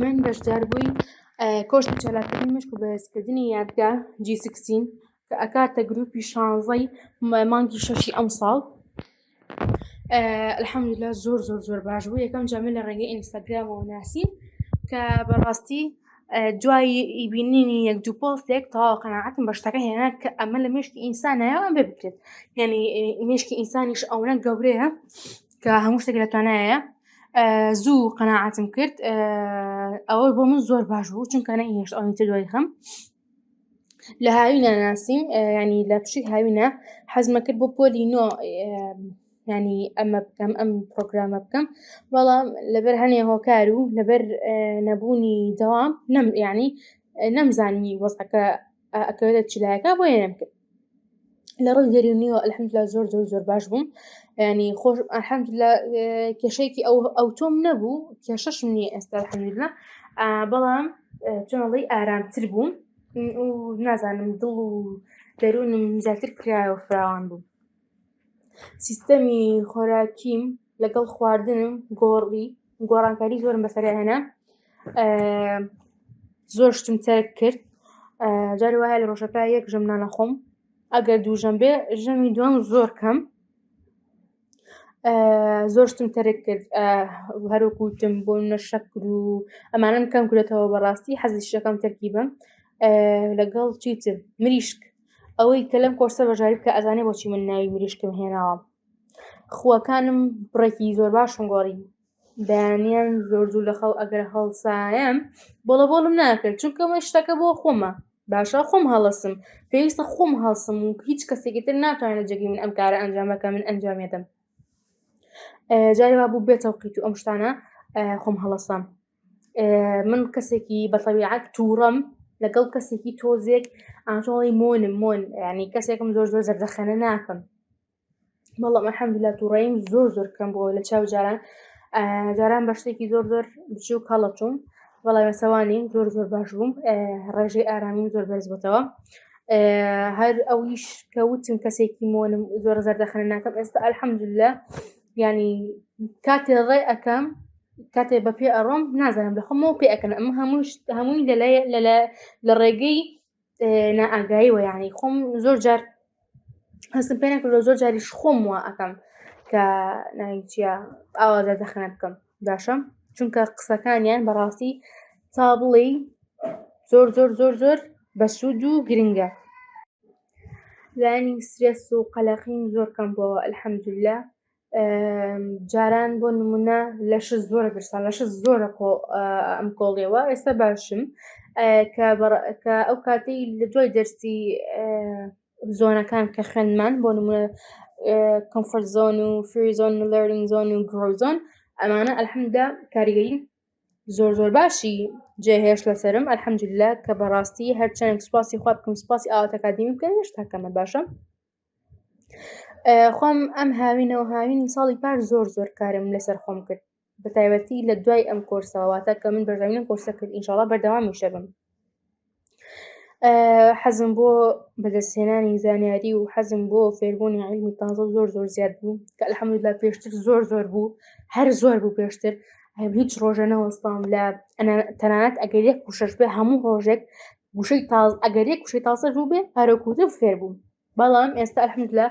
من بەشدار بووی کۆرسی چالاکتری مشک و بەرزکردنی یادگە جی سکستین کە ئەکاتە گروپی شانزەی مانگی شەشی ئەم ساڵ الحەمدللا زۆر زۆر زۆر باش بوو یەکەم جامە لە ڕێگەی ئینستاگرامەوە ناسی کە بەڕاستی دوای ئیبینینی یەک دوو پۆستێک تەواو قەنەعەتم بە شتەکە هێنا کە ئەمە لە مشکی ئینسانایە ئەم بێ بکرێت یعنی مشکی ئینسانیش ئەوەنە گەورەیە کە هەموو شتێک لە توانایە زوو قەنەعاتم کرد ئەوە بۆ من زۆر باش بوو چونکە نەهێشت ئەوەی تر دوای خەم لە هاوینە ناسیم ینی لە پشی هاوینە حەزمە کرد بۆ پۆلی نۆ ینی ئەمە بکەم ئەم پرۆگرامە بکەم بەڵام لەبەر هەنێ هۆکار و لەبەر نەبوونی دەوام نەم ینی نەمزانی وەزەکە ئەکەوێتە چلایەکە بۆ یەم کرد لە ڕووی دەرونیەوە ئەلحەمدلا زۆر زۆر زۆر باش بووم ینی خۆش ئەحەمدلا کێشەیەکی ئەو ئەو تۆم نەبوو کێشەشم نیە ئێستا حەمدلا بەڵام چۆنڵی ئارامتر بووم نازانم دڵ و دەروونم زیاتر کرایەوە فراوان بوو سیستەمی خۆراکیم لەگەڵ خواردنم گۆڕی گۆڕانکاری زۆرم بەسەرهێنا زۆر شتم تەرک کرد جاری وایە لە ڕۆژەکە یەک ژەم نانەخۆم ئەگەر دوو ژەم بێ ژەمی دوم زۆر کەم زۆر شتم تەرک کرد هەروکوتم بۆ نە شەکر و ئەمانم کەم کرێتەوە بەڕاستی حەزی شەکەم تەرکی بم لەگەڵ چیتر مریشک ئەوەی کە لەم کۆرسە بەشداری بکە ئەزانێ بۆچی من ناوی مریشکم هێناوە خووەکانم بڕێکی زۆر باشم گۆڕی بەیانیان زۆر زوو لە خەو ئەگەر هەڵسایم بۆڵە بۆڵم ناکرد چونکە من شتەکە بۆ خۆمە باشە خۆم هەڵسم پێویستە خۆم هەڵسم و هیچ کەسێکی تر ناتوانێت جێگەی من ئەم کارە ئەنجامەکە من ئەنجامێدەم جاری وا بوو بێتەوقیت و ئەم شتانە خۆم هەڵسام من کەسێکی بەتەویعات تووڕەم لەگەڵ کەسێکی تۆزێک ئاژەڵی مۆنم مۆن ینی کەسێکم زۆر زۆر زەردەخەنە ناکەم بەڵام ئەحەمدلا تووڕیم زۆر زۆر کەم بۆ لە چاو جاران جاران بە شتێکی زۆر زۆر بچوو کەڵەچوم بەڵام سەوانی زۆر زۆر باش بووم ڕێژەی ئارامی زۆر بەرز بۆتەوە هەر ئەویش کە وتم کەسێکی مۆنم زۆر زەردەخەنە ناکەم ئێستا ئەلحەمدلە ینی کاتێ ڕێ ئەەکەم کاتێ بە پێ ئەڕۆم نازانم لە خۆمەوە پێ ئەەکەن ئەمە هەموو هەمووی لە ڕێگەی نائگایی وە یاعنی خۆم زۆر جار هەستم پێ نەکردەوە زۆر جاریش خۆم وە ئەەکەم کە ناویچە ئاوازە دەخەنە بکەم باشم چونکە قسەکانیان بەڕاستی تا بڵێ زۆر زۆر زۆر زۆر بەسوود و گرنگە لانی سرێس و قەلەقین زۆر کەم بۆ ئەلحەمدلە جاران بۆ نمونە لەش زۆرە برسان لەش زۆرە خۆ ئەم کۆڵیەوە ئێستا باشم کە ئەو کاتی لە دوای دەرسی زۆنەکان کە خوێنمان بۆ نمونە کۆمفرت زۆن و فریزۆن و لەرنگ زۆن و گرۆزۆن ئەمانە ئەلحمدا کاریگەین زۆر زۆر باشی جێهێش لەسرم ئەلحەمجللا کە بەڕاستی هەرچەند سوپاسی خوا بکەم سوپاسی ئاواتەکدیم بکەن هێشتاکەمە باشە خۆم ئەم هاوینەوە هاوین ساڵی پار زۆر زۆر کارم لەسەر خۆم کرد بە تایبەتی لە دوای ئەم کۆرسەوەواتە کە من بەردەوام کۆرسە کرد ئینشاڵا بەردەوامی شەبم حەزم بۆ بەدەستێنانی زانیاری و حەزم بۆ فێربوونی عیلمی تازە زۆر زۆر زیاد بوو کە لە حەمدلا پێشتر زۆر زۆر بوو هەر زۆر بوو پێشتر هیچ ڕۆژە نەوەستام لە تەنانەت ئەگەر یەک پوشش بێ هەموو ڕۆژێک وشەی تاز ئەگەر یەک وشەی تازە بوو بێ هەرەکوتە فێر بووم بەڵام ئێستا ئەحمد لە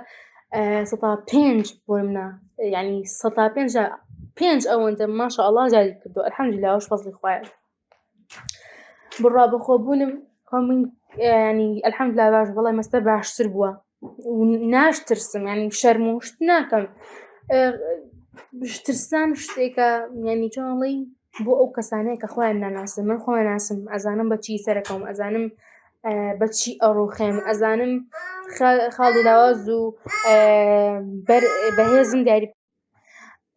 سەتا پێنج بۆ منە ینی سەتا پێنج پێنج ئەوەندە ماشە ئەڵا جاری کردو ئەحمد لاوەش فەزلی خوایە بڕا بەخۆبوونم خۆ من ینی ئەلحەمد لا باش بەڵێ مەستە باشتر بووە ناشترسم ینی شەرموشت ناکەم بشترسان شتێکە یانی چۆڵی بۆ ئەو کەسانەیە کە خۆیان ناناسم من خۆیان ناسم ئەزانم بەچی سەرەکەم ئەزانم بەچی ئەڕوخێم ئەزانم خاڵی لاواز و بەهێزم دیاری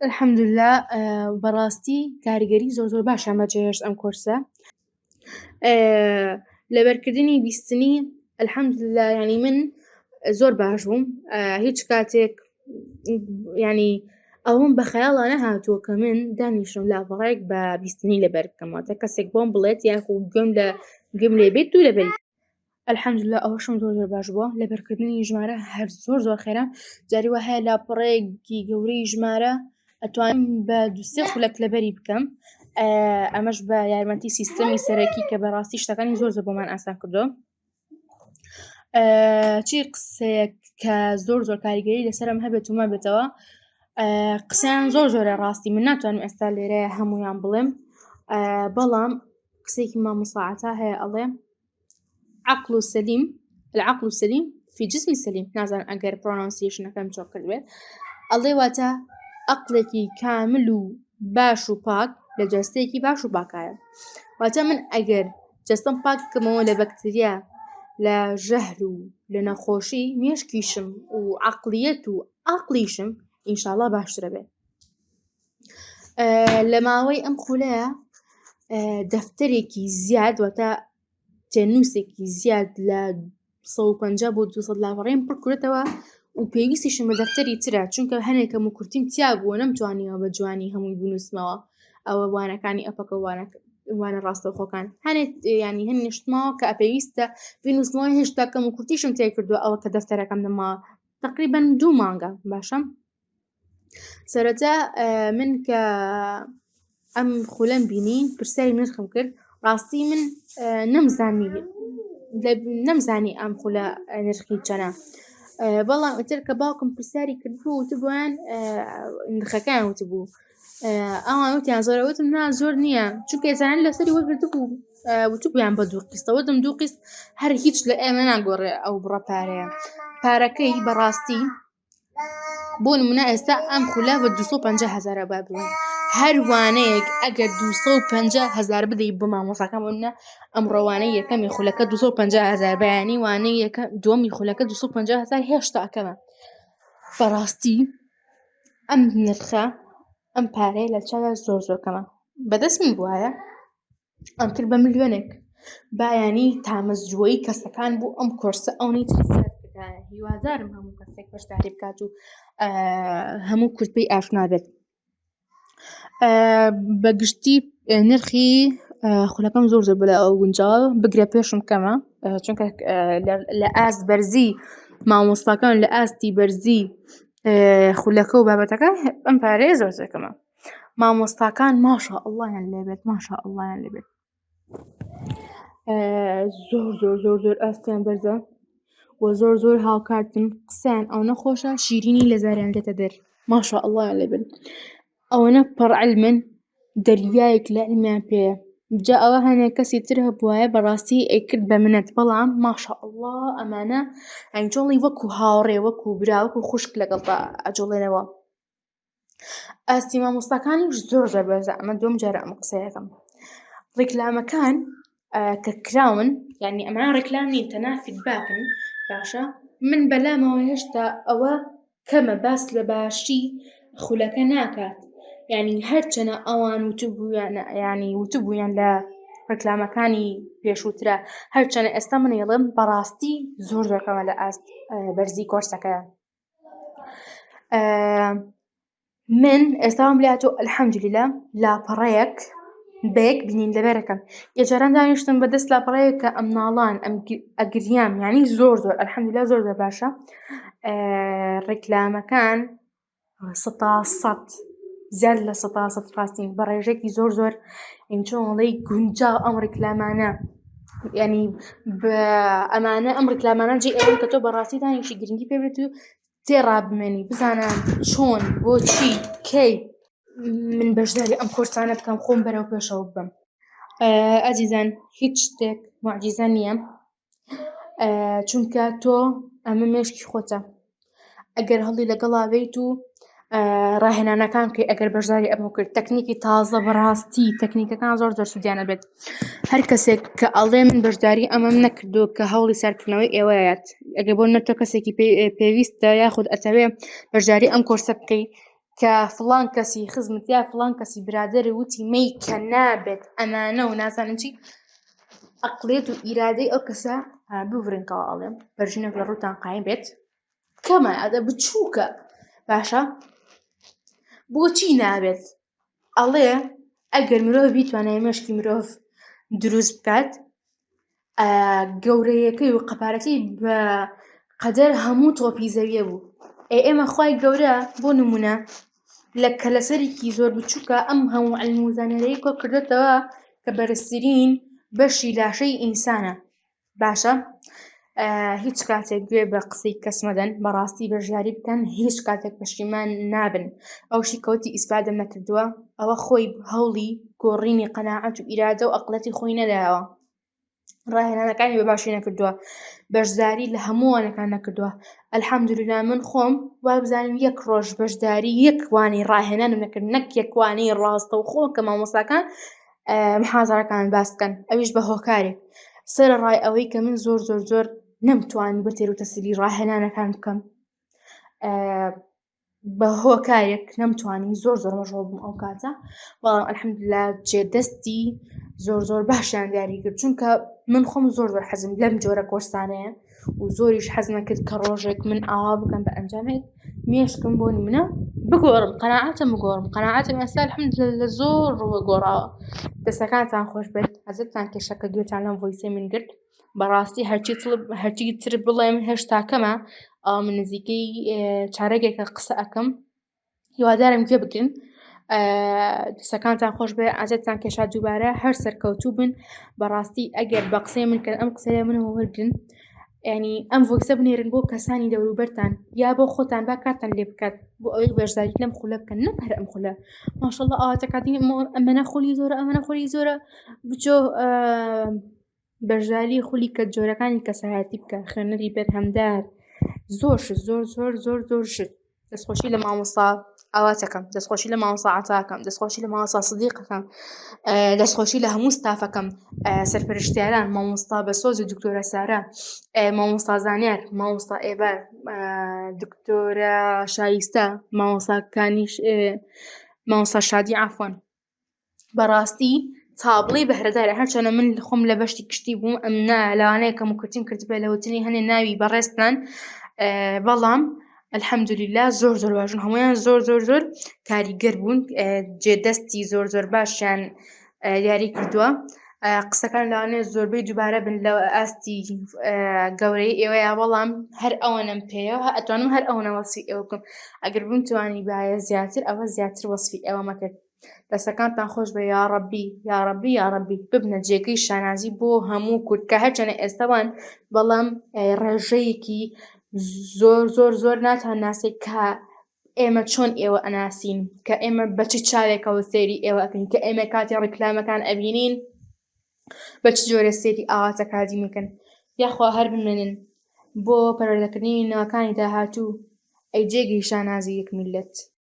الحمدللە بەڕاستی کاریگەری زۆر زۆر باشیان بەجێهێشت ئەم کۆرسە لەبەرکردنی بیستنی الحمدللە یانی من زۆر باش بووم هیچ کاتێک یانی ئەوەم بە خەیاڵا نەهاتووە کە من دانیشم لاپەڕێک بە بیستنی لەبەر بکەمەوە تا کەسێک بۆم بڵێت یاخو گوێم لە گوێم لێ بێت دوو لەبەری الحمدللە ئەوەشم زۆر زۆر باش بووە لەبەرکردنی ژمارە هەر زۆر زۆر خێرا جاری وە هەیە لاپەڕەیەکی گەورەی ژمارە ئەتوانم بە دوسێ خولەک لەبەری بکەم ئەمەش بە یارمەتی سیستەمی سەرەکی کە بەڕاستی شتەکانی زۆر زۆر بۆمان ئاسان کردو چی قسەیەک کە زۆر زۆر کاریگەری لەسرم هەبێت ومە بێتەوە قسەیان زۆر زۆرە ڕاستی من ناتوانم ئێستا لێرەیە هەمویان بڵێم بەڵام قسێکی مامۆساعتا هەیە ئەڵێ عقل سەلیم العقل سەلیم فی جسمی سەلیم نازان ئەگەر پرۆنانسیشنەکەم چۆک کردێت ئەڵێ واتە ئەقلێکی کامل و باش و پاک لە جەستەیەکی باش و باکایە واتە من ئەگەر جەستم پاک بکەمەوە لە بەکتریا لە ژەهر و لە نەخۆشی مێشکیشم و عقلیەت و ئاقلیشم ئینشاءله باشترە بێت لە ماوەی ئەم خولەیە دەفتەرێکی زیاد واتە تێنووسێکی زیاد لە 150 بۆ 200 لاپەڕێن پڕکرێتەوە و پێویستیشم بە دەفتەری ترە چونکە هەنێکم و کورتیم تیا بووە نەمتوانیەوە بە جوانی هەمووی بنووسمەوە ئەوە وانەکانی ئەپەکە وانە ڕاستەوخۆکان هەنێت ینی هەن نیشتمەوە کە پێویستە بنووسمەوە هێشتا کەم و کورتیشم تێکردو ئەوە کە دەفتەرەکەم نەما تقریبن دوو مانگە باشم سەرەتا من کە ئەم خولەم بینی پرسیاری نرخم کرد ڕاستی من نەمزانی نەمزانی ئەم خولە نرخی چەنە بەڵام ئەتر کە باوکم پرسیاری کردبوو وتبووان نرخەکان وتبوو ئەوان وتیان زۆرە وتم نا زۆر نییە چونکە زانان لەسەری وەگرت بوو وتبوویان بە دوو قستە وتم دوو قست هەر هیچ لە ئێمە ناگۆڕێ ئەو بڕە پارەیە پارەکەی بەڕاستی بۆ نمونە ئێستا ئەم خولە بە 250 هزار با بڵێ هەروانەیەک ئەگەر 250 هزار بدەیت بۆ مامۆساکە بۆە ئەم ڕۆوانە یەکەمی خولەکە 250 هزار بەیانی وانەیە یەکە دومی خولەکە 250 هزار هێشتاکەمە بەڕاستی ئەم نرخە ئەم پارەیە لە چاوە زۆر زۆرکەمە بەدەستمی بواە ئەمتر بە ملیۆنێک بایانی تامەزرۆی کەسەکان بۆ ئەم کۆرسە ئەونی هیوادارم هەموو کەسێک بەشداری بکات و هەموو کورتپی ئاشنابێت بەگشتی نرخی خولەکەم زۆر زۆر بەلا ئەو گونجاوە بگرە پێشم کەمە چونکە لە ئاست بەرزی مامۆستاکان لە ئاستی بەرزی خولەکە و بابەتەکە ئەم پارەیە زۆر زەکەمە مامۆستاکان ماشاء اللە یان لێبێت ماشاء اللە یان لێبێت زۆر زۆر زۆر زۆر ئاستیان بەرزە و زۆر زۆر هاوکارتن قسەیان ئەوەنە خۆشە شیرینی لە زاریان دێتە دەر ماشاء اللە یان لێبن ئەوەنە پەڕ علمن دەریایەک لە علمیان پێیە جا ئەوە هەنێک کەسی تر هەبوایە بەڕاستی ئەیکرد بە منەت بەڵام ماشاء اللە ئەمانە ئەنجۆڵی وەکو هاوڕێ وەکو برا وەکو خوشک لەگەڵدا ئەجۆڵێنەوە ئاستی مامۆستاکانیش زۆر زۆر بەرزە ئەمە دوم جارە ئەم قسەکەم ڕیکلامەکان کە کراون یعنی ئەمە ڕێکلامی تەناسیب باکن باشە من بەلامەوە هێشتا ئەوە کەمە باس لە باشی خولەکە ناکات یعنی هەرچەنە ئەوان وتبوویان ینی وتبوویان لە ڕکلامەکانی پێشووترە هەرچەنە ئێستا منیڵم بەڕاستی زۆر دەکەمە لە ئاست بەرزی کۆرسەکەیان من ئێستاوم لە تۆ ئەلحەمدلیلا لاپەڕەیەک بەیەک بینین لەبەرەکەم ئێجاران دانیشتم بەدەست لاپەڕەیەکە ئەم ناڵان ئەم ئەگریان یانی زۆر زۆر ئەلحەمدلا زۆر زۆر باشە ڕیکلامەکان ستا سەد زیاد لە سەتا سەد ڕاستین بە ڕێژێکی زۆر زۆر ئینچۆڵی گونجا ئەم ڕیکلامانە ینی ئەمانە ئەم ڕیکلامانە جێ ئەوەن کە تۆ بەڕاستی دانیشی گرنگی پێبێت و تێڕا بمێنی بزانە چۆن بۆچی کەی من بەشداری ئەم کۆرسانە بکەم خۆم بەرەو پێشەوە بم ئازیزان هیچ شتێک معجیزە نییە چونکە تۆ ئەمە مێشکی خۆتە ئەگەر هەڵی لەگەڵا بێیت و ڕاهێنانەکان کەی ئەگەر بەشداری ئەمە کرد تەکنیکی تازە بەڕاستی تەکنیکەکان زۆر زۆر سوودیانە بێت هەر کەسێک کە ئەڵێ من بەشداری ئەمەم نەکردو کە هەوڵی سەرکردنەوەی ئێوەیەت ئەگە بۆ نەتۆ کەسێکی پێویستە یاخود ئەتەوێ بەشداری ئەم کۆرسە بکەیت کە فڵان کەسی خزمت یا فڵان کەسی برادر وتی مەی کە نابێت ئەمانە و نازانم چی ئەقلێت و ئیرادەی ئەو کەسە ببرنکەوە ئەڵێم بەرژنە لە ڕووتان قایم بێت کەمە ئەدە بچووکە باشە بۆچی نابێت ئەڵێ ئەگەر مرۆڤ بیتوانێت مشکی مرۆڤ دروست بکات گەورەیەکەی و قەپارەکەی بە قەدەر هەموو تۆپی زەویە بوو ئێ ئێمە خی گەورە بۆ نمونە لە کەلەسەرێکی زۆر بچووکە ئەم هەموو ئەلموزانەرەی کۆ کردێتەوە کە بەرزترین بەشی لاشەی ئینسانە باشە هیچ کاتێک گوێ بە قسەی کەسمەدەن بەڕاستی بەژیاری بکەن هیچ کاتێک پەشیمان نابن ئەوشی کەوتی ئیسپادەم نەکردووە ئەوە خۆی هەوڵی گۆڕینی قەنەعەت و ئیرادە و ئەقلەتی خۆی نەداوە ڕاهێنانەکانی بە باشی نەکردووە بەشداری لە هەمووانەکان نەکردووە ئەلحەمدووریلا من خۆم وابزانم یەک ڕۆژ بەشداری یەکوانی ڕاهێنانم نەکرد نەک یەکوانی ڕاستە و خۆ کە مامۆساکان محازەکان باس بکەن ئەویش بە هۆکارێک سرە ڕای ئەوەی کە من زۆر زۆر زۆر نەمتوانی بە تێروتەسلی ڕاهێنانەکان بکەم بە هۆکارێک نەمتوانی زۆر زۆر مەشغوڵ بووم ئەو کاتە بەڵام الحمدللە جێ دەستی زۆر زۆر باشیان دیاری کرد چونکە من خۆم زۆر زۆر حەزم لەم جۆرە کۆرسانەیە و زۆریش حەز نەکرد کە ڕۆژێک من ئاوا بکەم بە ئەنجامێک مێشکم بۆ نمونە بگۆڕم قەناعەتم بگۆڕم قەناعەتم ئێستا الحمدللە لە زۆر ڕووە گۆڕاوە دەستەکانتان خۆش بێت حەزتان کێشەکە گوێتان لەم ڤۆیسەی من گرت بەڕاستی هەرچی تڵب هەرچی تر بڵێم هێشتا کەمە ئەم نزیکەی چارەگێکە قسە ئەەکەم هیوادارم گوێ بگرن دەسەکانتان خۆش بێ ئازتان کێشا دووبارە هەر سەرکەوتوو بن بەڕاستی ئەگەر بە قسەی من کە ئەم قسەیە من هەوەرگن ینی ئەم ڤۆکسە بنێرن بۆ کەسانی دەوروبەرتان یا بۆ خۆتان با کاتان لێ بکات بۆ ئەوەی بەشداری لەم خولە بکەن نەک هەر ئەم خولە ماشەڵ ئاواتەکاتی ئەمەە خولی زۆرە ئەمەە خولی زۆرە بچۆ بەرژاوی خولی کەت جۆرەکانی کەسایەتی بکە خوێنەری بەرهەمدار زۆر شت زۆر زۆر زۆر زۆر شت دەستخۆشی لە مامۆستا ئاواتەکەم دەستخۆشی لە مامۆستا عەتاکەم دەستخۆشی لە مامۆستا سدیقەکەم دەستخۆشی لە هەموو ستافەکەم سەرپەرشتیاران مامۆستا بەسۆز و دکتۆرە سارا مامۆستا زانیار مامۆستا ئێبار دکتۆرە شایستە مامۆساکانیش مامۆستا شادی عەفوەن بەڕاستی تابڵی بەهرەدارە هەرچەنە من خۆم لە بەشتی کشتی بووم ئەم نا لەوانەیە کەم و کورتیم کرد بێ لەوتنی هەنێ ناوی بەڕێزتان بەڵام الحەمدلیلا زۆر زۆر باشن هەمویان زۆر زۆر زۆر کاریگەر بوون جێ دەستی زۆر زۆر باشیان دیاری کردووە قسەکان لەوانەیە زۆربەی دووبارە بن لە ئاستی گەورەی ئێوەیە بەڵام هەر ئەوەنەم پێەوە ئەتوانم هەر ئەوەنە وەسی ئەو بکەم ئەگەر بم توانی باە زیاتر ئەوە زیاتر وەسفی ئەوە مەکرد دەسەکانتان خۆش بە یاڕبی یاڕبی یاڕبی ببنە جێگەی شانازی بۆ هەموو کورد کە هەرچەنە ئێستاوان بەڵام ڕێژەیەکی زۆر زۆر زۆر ناتان ناسێک کە ئێمە چۆن ئێوە ئەناسین کە ئێمە بە چ چاوێکەوە سێری ئێوە ئەکەین کە ئێمە کاتی ڕیکلامەکان ئەبینین بە چ جۆرە سێری ئاواتە کاتی میکن یاخوا هەر بمێنن بۆ پەرۆدەکردنی ناکانی داهاتوو ئەی جێگەی شانازی یەک میلەت.